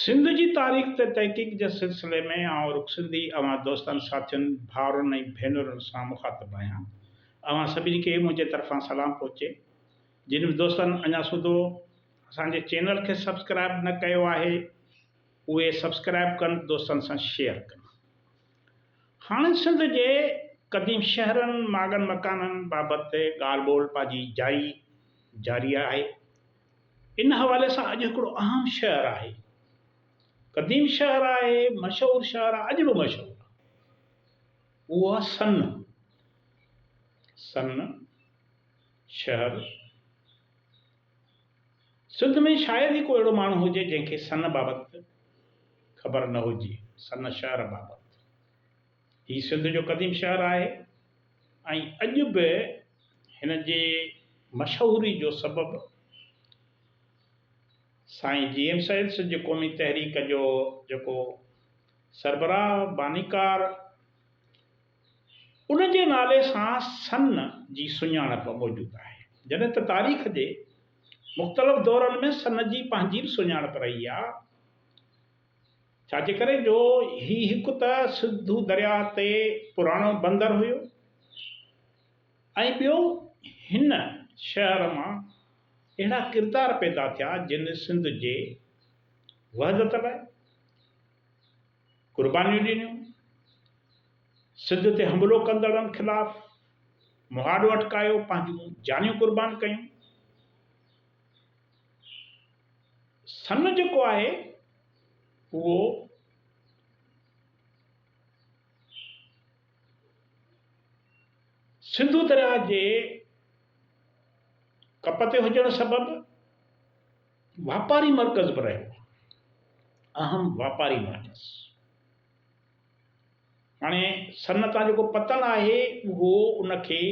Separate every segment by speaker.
Speaker 1: سنڌ جي تاريخ تي تحقيق جي سلسلي ۾ آئون رخ سنڌي اوهان دوستن، ساٿين، ڀائرن ۽ ڀينرن سان مخاطب آهيان. اوهان سڀني کي منهنجي طرفان سلام پهچي. جن به دوستن اڃا سوڌو اسان جي چينل کي سبسڪرائب نه ڪيو آهي اهي سبسڪرائب ڪن دوستن سان شيئر ڪن. هاڻي سنڌ جي قديم شهرن، ماڳن مڪانن بابت ڳالهه ٻولهه پنهنجي جائي جاري آهي. ان حوالي سان اڄ هڪڙو اهم شهر آهي. قديم شهر آهي، مشهور شهر آهي، اڄ به مشهور آهي. اهو آهي سن. سن شهر. سنڌ ۾ شايد ئي ڪو اهڙو ماڻهو هجي جنهن کي سن بابت خبر نه هجي، سن شهر بابت. هي سنڌ جو قديم شهر آهي ۽ اڄ به هن جي مشهوري جو سبب سائين جي ايم سيد سنڌ قومي تحريڪ جو جيڪو سربراهه بانيڪار ان جي نالي سان سن جي سڃاڻپ موجود آهي جڏهن ته تاريخ جي مختلف دورن ۾ سن جي پنهنجي به سڃاڻپ رهي آهي. ڇا جي ڪري جو هي هڪ ته سنڌو درياهه تي پراڻو بندر هيو ۽ ٻيو هن شهر مان اهڙا ڪردار پيدا ٿيا جن سنڌ جي وحدت لاء قربانيون ڏنيون، سنڌ تي حملو ڪندڙن خلاف مهاڏو اٽڪايو، پنهنجون جانيون قربان ڪيون. سن جيڪو آهي اهو سنڌو درياهه جي ڪپ تي هجڻ سبب واپاري مرڪز به رهيو آهي اهم واپاري مرڪز هاڻي سن تان جيڪو پتڻ آهي اهو ان کي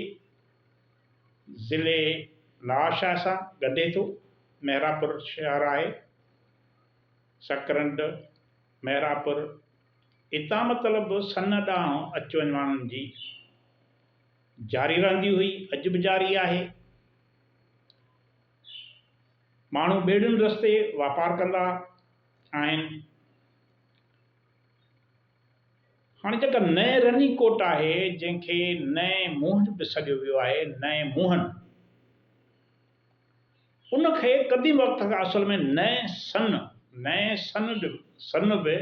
Speaker 1: ضلعي لاڙ شاهه سان ڳنڍي ٿو. مهراپور شهر آهي، سڪرنڊ، مهراپور، اتان مطلب سن ڏانهن اچ وڃ ماڻهن جي جاري رهندي هئي، اڄ به جاري آهي. ماڻهو ٻيڙين رستي واپار ڪندا آهن. هاڻي جيڪا نئين رني ڪوٽ آهي، جنهن کي نئين موهن به سڏيو ويو آهي، نئين موهن، ان کي قديم وقت کان اصل ۾ نئين سن، نئين سن جو سن به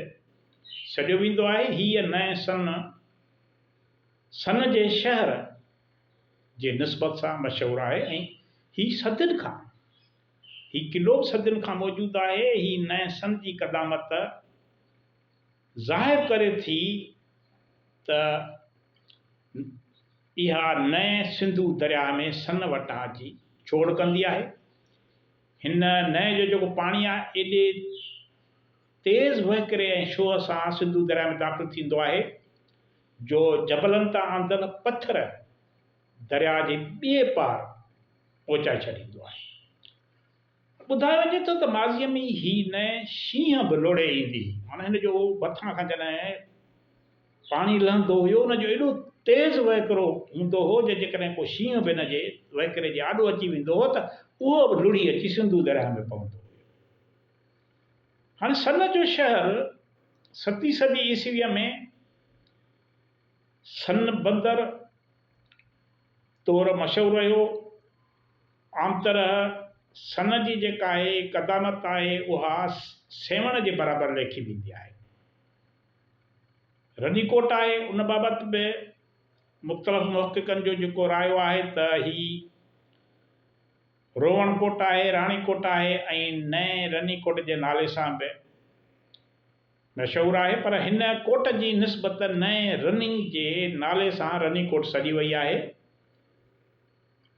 Speaker 1: سڏيو ويندو آهي. هيء نئين سن، سن جي شهر جي نسبت سان مشهور آهي ۽ هي صدين کان، هي قلعو به صدين کان موجود آهي. هي نئين سن جي قدامت، ظاهر ڪري ٿي ته اها نئين سنڌو درياهه ۾ سن وٽان جي ڇوڙ ڪندي آهي. هن نئين جو جيڪو پاڻي آهي ايڏي تيز وهڪري ۽ شوهه سان سنڌو درياهه ۾ داخل ٿيندو آهي جو جبلن تان آندل پٿر درياهه جي ٻئي پار پهچائي ڇڏيندو آهي. ٻڌايو وڃي ٿو ته ماضيء ۾ ئي هي نئين شينهن به لوڙهي ايندي هئي. معنيٰ هن جو مٿان کان جڏهن پاڻي لهندو هيو، ان جو ايڏو تيز وهڪرو هوندو هو جو جيڪڏهن ڪو شينهن به ان جي وهڪري جي آڏو اچي ويندو هو ته اهو به لڙهي اچي سنڌو درياهه ۾ پوندو هيو. هاڻي سن جو شهر ستين صدي عيسويء ۾ سن بندر طور مشهور رهيو. عام طرح سن جي جيڪا آهي قدامت آهي اها سيوهڻ جي برابر ليکي ويندي آهي. رني ڪوٽ آهي ان بابت به مختلف محققن جو جيڪو رايو آهي ته هي روهڻ ڪوٽ آهي، راڻي ڪوٽ آهي ۽ نئين رني ڪوٽ جي نالي سان به مشهور آهي پر هن ڪوٽ جي نسبت نئين رني جي نالي سان رني ڪوٽ سڏي وئي آهي.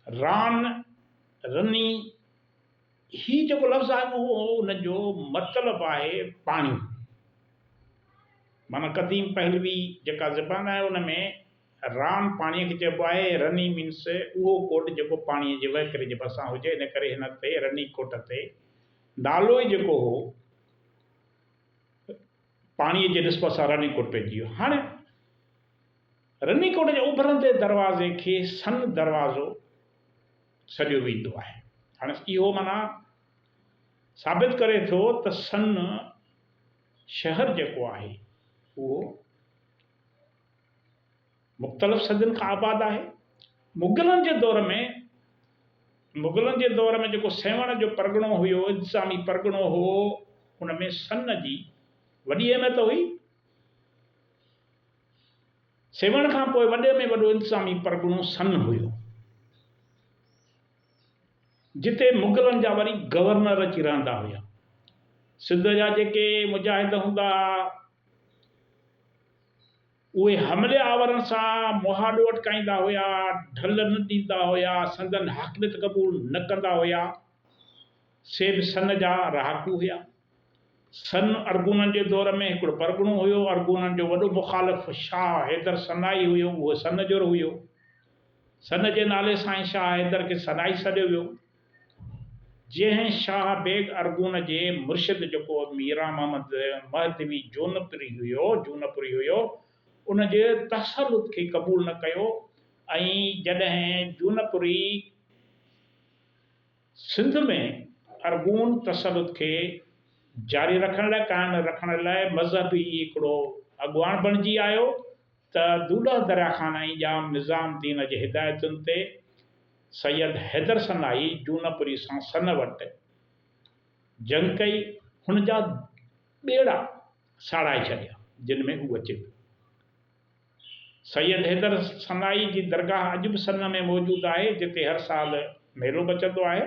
Speaker 1: ران، رني، هي جيڪو لفظ آهي اهو ان جو مطلب آهي پاڻي. معنيٰ قديم پهلوي جيڪا زبان آهي ان ۾ ران پاڻيء کي چئبو آهي، رني مينس اهو ڪوٽ جيڪو پاڻيء جي وهڪري جي ڀرسان هجي، ان ڪري هن تي رني ڪوٽ تي نالو ئي جيڪو هو پاڻيء جي نسبت سان رني ڪوٽ پئجي ويو. هاڻي. رني ڪوٽ جي اڀرندي دروازي کي سن دروازو سڏيو ويندو آهي. هاڻ اهو معنيٰ ثابت ڪري ٿو ته سن شهر جيڪو آهي اهو مختلف صدين کان آباد آهي. مغلن جي دور ۾ مغلن جي دور ۾ جيڪو سيوهڻ جو پرڳڻو هيو، انتظامي پرڳڻو هو، ان ۾ سن جي وڏي اهميت هئي. سيوهڻ کان پوء وڏي ۾ وڏو انتظامي پرڳڻو سن هيو، جتي مغلن جا وري گورنر اچي رهندا هيا. سنڌ جا جيڪي مجاهد هوندا ها، اهي حملي آورن سان مهاڏو اٽڪائيندا هيا، ڍل نه ڏيندا هيا، سندن حاڪميت قبول نه ڪندا هيا. سي به سن جا رهاڪو هيا. سن ارغونن جي دور ۾ هڪڙو پرڳڻو هيو. ارغونن جو وڏو مخالف شاهه حيدر سنائي هيو. اهو سن جور هيو. سن جي نالي سان ئي شاهه حيدر کي سنائي سڏيو ويو. جنهن شاهه بيگ ارغون جي مرشد جيڪو ميران محمد مهدوي جونپوري هيو، Jonapuri، هيو، ان جي تسلط کي قبول نه ڪيو ۽ جڏهن جونپوري، سنڌ ۾ ارغون تسلط کي جاري رکڻ لاء قائم رکڻ لاء مذهب ئي هڪڙو اڳواڻ بڻجي آيو ته دودح دريا خان ۽ ڄام نظام الدين جي هدايتن تي سيد حيدر سنائي جونپوري سان سن وٽ جنگ ڪئي، هن جا ٻيڙا ساڙائي ڇڏيا، جن ۾ اهو اچي پيو. سيد حيدر سنائي جي درگاهه اڄ به سن ۾ موجود آهي، جتي هر سال ميلو مچندو آهي.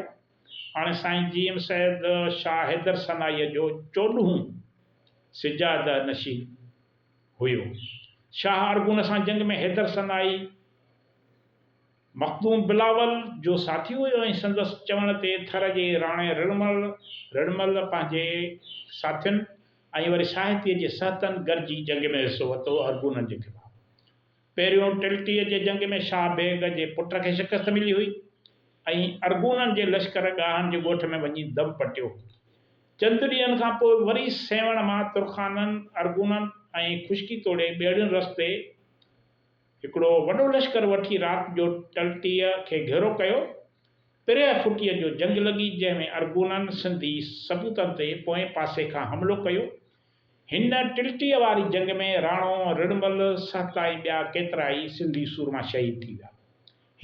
Speaker 1: هاڻي سائين جي ايم سيد شاهه حيدر سنائيء جو چوڏهون سجاده نشين هيو. شاهه ارغون سان جنگ ۾ حيدر سنائي، مخدوم بلاول جو ساٿي هيو ۽ سندس چوڻ تي ٿر جي راڻي رڙمل، Rirmal، پنهنجي ساٿين ۽ وري ساهتي جي سهتن گڏجي جنگ ۾ حصو ورتو ارغونن جي خلاف. پهريون ٽلٽيء جي جنگ ۾ شاهه بيگ جي پٽ کي شڪست ملي هئي ۽ ارغونن جي لشڪر ڳاهن جي ڳوٺ ۾ وڃي دم پٽيو. چند ڏينهن کان پوء وري سيوهڻ مان ترخانن، ارغونن ۽ خشڪي توڙي ٻيڙين رستي، هڪڙو وڏو لشڪر وٺي رات جو ٽلٽيء کي گهيرو ڪيو. پريهه ڦٽيء جو جنگ لڳي، جنهن ۾ ارغونن سنڌي سپوتن تي پوئين پاسي کان حملو ڪيو. هن ٽلٽيء واري جنگ ۾ راڻو رڻمل، سهڪا ۽ ٻيا ڪيترائي سنڌي سورما شهيد ٿي ويا.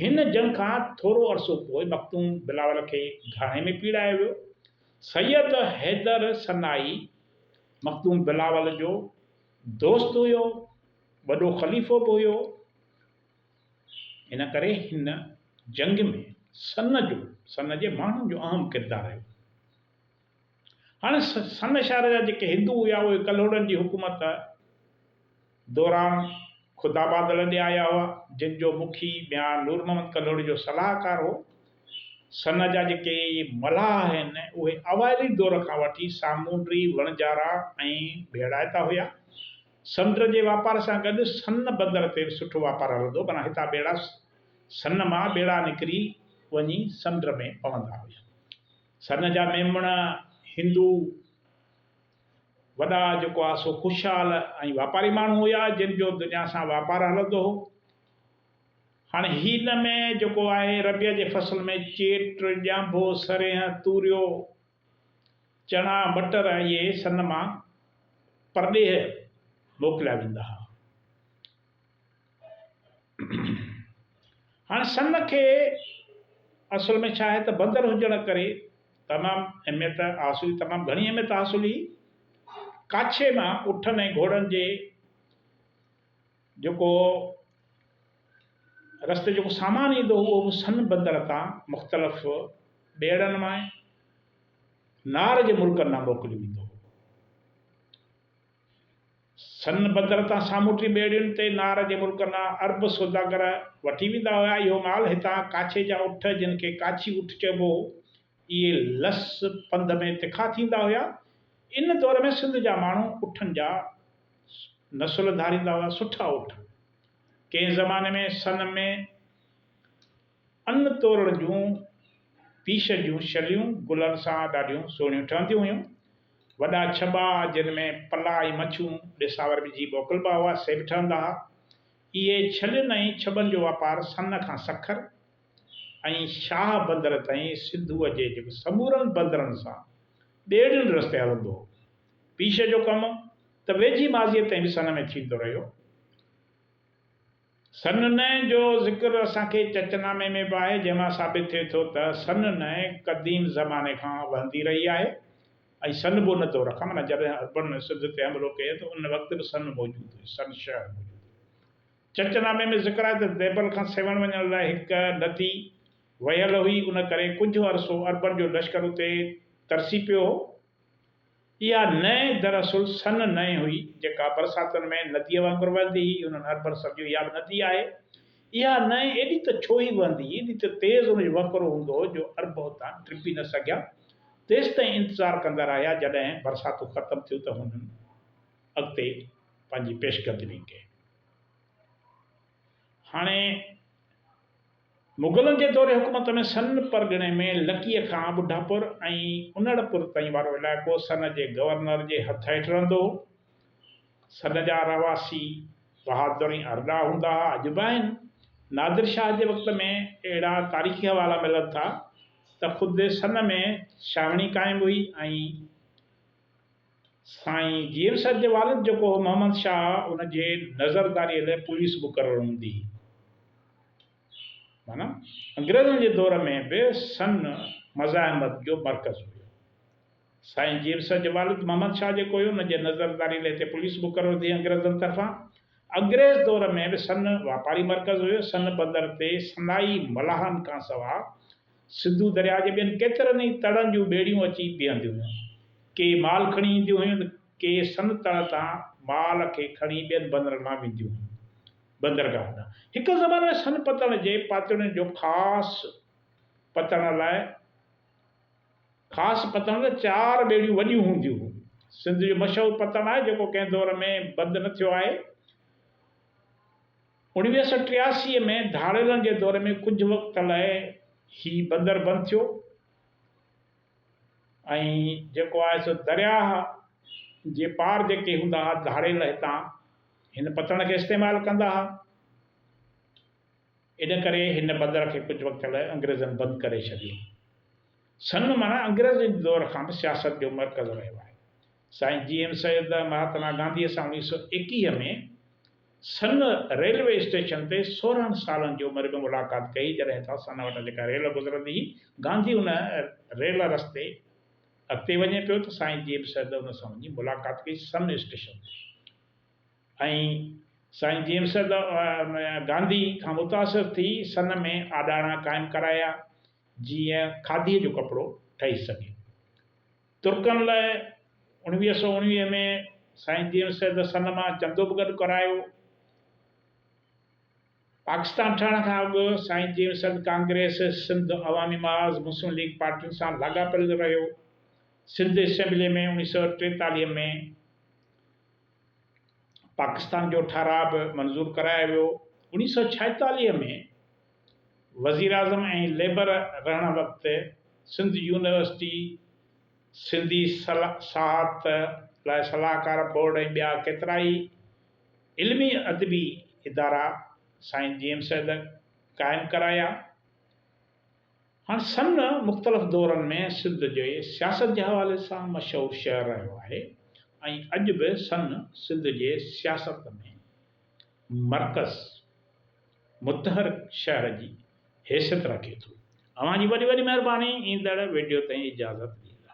Speaker 1: هن جنگ کان ٿورو عرصو پوء مخدوم بلاول کي گهاڻي ۾ پيڙايو ويو. سيد حيدر سنائي مخدوم بلاول جو دوست هيو. وڏو خليفو به هيو، ان ڪري هن جنگ ۾ سن جو، سن جي ماڻهن جو اهم ڪردار رهيو. هاڻي سن شهر جا جيڪي هندو هيا اهي ڪلهوڙن جي حڪومت دوران خدابادل ڏي آيا هئا، جن جو مکي ميان نور محمد ڪلهوڙي جو صلاحڪار هو. سن جا جيڪي ملاح آهن اهي اوائلي دور کان وٺي سامونڊي، وڻجارا ۽ ڀيڙائتا هيا. سمنڊ جي واپار سان گڏ سن بندر تي به سٺو واپار هلندو، معنيٰ هتان ٻيڙا سن مان ٻيڙا نڪري وڃي سمنڊ ۾ پوندا هيا. سن جا ميمڻ، هندو، وڏا جيڪو آ سو خوشحال ۽ واپاري ماڻهو هيا، جن جو دنيا سان واپار هلندو هو. هاڻي هن ۾ جيڪو آهي ربيع جي فصل ۾ چيٽ، ڄانڀو، سرينهن، توريو، چڻا، مٽر ۽ اهي سن مان پرڏيهه موڪليا ويندا ها. هاڻ سن کي اصل ۾ ڇا آهي ته بندر هجڻ ڪري تمام اهميت حاصل تمام گهڻي اهميت حاصل هئي. ڪاڇي مان اٺن ۽ گهوڙن جي جيڪو رستي جيڪو سامان ايندو هو اهو به سن بندر تان مختلف ٻيڙن مان نار جي ملڪن ڏانهن موڪليو ويندو هو. سن بندر تان سامونڊي ٻيڙين تي نار جي ملڪن ڏانهن عرب سوداگر وٺي ويندا هيا. اهو مال هتان ڪاڇي جا اٺ جن کي ڪاڇي اٺ چئبو هو اهي لس پنڌ ۾ تکا ٿيندا هيا. ان دور ۾ سنڌ جا ماڻهو اٺن جا نسل ڌاريندا هئا، سٺا اٺ. ڪنهن زماني ۾ سن ۾ ان تورڻ جون پيش جون شليون گلن سان ڏاڍيون سهڻيون ٺهنديون هيون. وڏا ڇٻا جن ۾ پلا ۽ مڇون ڏساور وجهي موڪلبا هئا، سي به ٺهندا ها. اهي ڇلين ۽ ڇٻن جو واپار سن کان سکر، ۽ شاهه بندر تائين سنڌوء جي جيڪي سمورن بندرن سان ٻيڙين رستي هلندو هو. پيش جو ڪم ته ويجهي ماضيء تائين به سن ۾ ٿيندو رهيو. سن نئ جو ذڪر اسان کي چچ نامي ۾ به آهي، جنهن مان ثابت ٿئي ٿو ته سن نئ قديم زماني کان وهندي رهي آهي ۽ سن بو نه دور کان معنيٰ جڏهن عربن سنڌ تي حملو ڪيو ته ان وقت به سن موجود هئي، سن شهر موجود هو. چچ نامي ۾ ذڪر آهي ته ديبل کان سيوهڻ وڃڻ لاء هڪ ندي وهيل هئي، ان ڪري ڪجهه عرصو عربن جو لشڪر اتي ترسي پيو هو. اها نئن دراصل سن نئن هئي، جيڪا برساتن ۾ نديء وانگر وهندي هئي. انهن عربن سمجهيو اها به ندي آهي. اها نئن ايڏي ته ڇوهي وهندي هئي، ايڏي ته تيز ان جو وهڪرو هوندو هو جو عرب اتان ٽپي نه سگهيا. تيستائين انتظار ڪندا رهيا، جڏهن برساتون ختم ٿيون ته هنن اڳتي پنهنجي پيشقدمي ڪئي. هاڻي مغلن جي دور حڪومت ۾ سن پرڳڻي ۾ لڪيء کان ٻڍاپور ۽ انڙپور تائين وارو علائقو سن جي گورنر جي هٿ هيٺ رهندو هو. سن جا رهواسي بهادر ۽ ارڏا هوندا ها، اڄ به آهن. نادر شاهه جي وقت ۾ اهڙا تاريخي حوالا ملن ٿا ته خود سن ۾ ڇانوڻي قائم هئي ۽ سائين جيئر صاحب جي والد جيڪو هو محمد شاهه ان جي نظرداريء لاء پوليس مقرر هوندي هئي. معنيٰ انگريزن جي دور ۾ به سن مزاحمت جو مرڪز هيو. سائين جيئر صاحب جي والد محمد شاهه جيڪو هيو ان جي نظرداريء لاء هتي پوليس مقرر ٿي انگريزن طرفان. انگريز دور ۾ به سن واپاري مرڪز هيو. سن بندر تي سندائي ملاحن کانسواء سنڌو درياء جي ٻين ڪيترن ئي تڙن جون ٻيڙيون اچي بيهنديون هيون. ڪي مال کڻي اينديون هيون ته ڪي سن تڙ تان مال کي کڻي ٻين بندرن مان وينديون هيون. بندرگاهن ڏانهن هڪ زماني ۾ سن پتڻ جي پاتڙين جو خاص پتڻ لاء خاص پتڻ لاء چار ٻيڙيون وڏيون هونديون هيون. سنڌ جو مشهور پتڻ آهي جيڪو ڪنهن دور ۾ بند نه ٿيو آهي. اوڻويهه سئو ٽياسي ۾ ڌاڙيلن جي دور ۾ ڪجهه وقت لاء هي بندر بند ٿيو ۽ جيڪو آهي سو درياهه جي پار جيڪي هوندا ها ڌاڙيل هتان هن پتڻ کي استعمال ڪندا ها. ان ڪري هن بندر کي ڪجهه وقت لاء انگريزن بند ڪري ڇڏيو. سنڌ معنيٰ انگريزن جي دور کان به سياست جو مرڪز رهيو آهي. سائين جي ايم سيد مهاتما گانڌيء سان اوڻيهه سؤ ايڪيهه ۾ سن ريلوي اسٽيشن تي سورهن سالن جي عمر ۾ ملاقات ڪئي جڏهن تان سن وٽان جيڪا ريل گذرندي هئي گانڌي ان ريل رستي اڳتي وڃي پيو ته سائين جي ايم سيد ان سان وڃي ملاقات ڪئي سن اسٽيشن تي. ۽ سائين جيمس گانڌي کان متاثر ٿي سن ۾ آڏاڻا قائم ڪرايا جيئن کاڌيء جو ڪپڙو ٺهي سگهي. ترڪن لاء اڻويهه سؤ اڻويهه ۾ سائين جيمس سن مان چندو به گڏ ڪرايو. پاڪستان ٺهڻ کان اڳ سائين جيمس ڪانگريس، سنڌ عوامي محاذ، مسلم ليگ پارٽين سان لاڳاپيل رهيو. سنڌ اسيمبليء ۾ اڻويهه سؤ ٽيتاليهه ۾ پاڪستان جو ٺهراء به منظور ڪرايو ويو. اوڻيهه سؤ ڇاهيتاليهه ۾ وزيراعظم ۽ ليبر رهڻ وقت سنڌ يونيورسٽي، سنڌي سياحت لاء صلاحڪار بورڊ ۽ ٻيا ڪيترائي علمي ادبي ادارا سائين جي ايم سيد قائم ڪرايا. هاڻ سن مختلف دورن ۾ سنڌ جي سياست جي حوالي سان مشهور شهر رهيو آهي ۽ اڄ به سن سنڌ جي سياست ۾ مرڪز، متحرڪ شهر جي حيثيت رکي ٿو. اوهان جي وڏي وڏي مهرباني ايندڙ وڊيو تائين اجازت ڏيندا.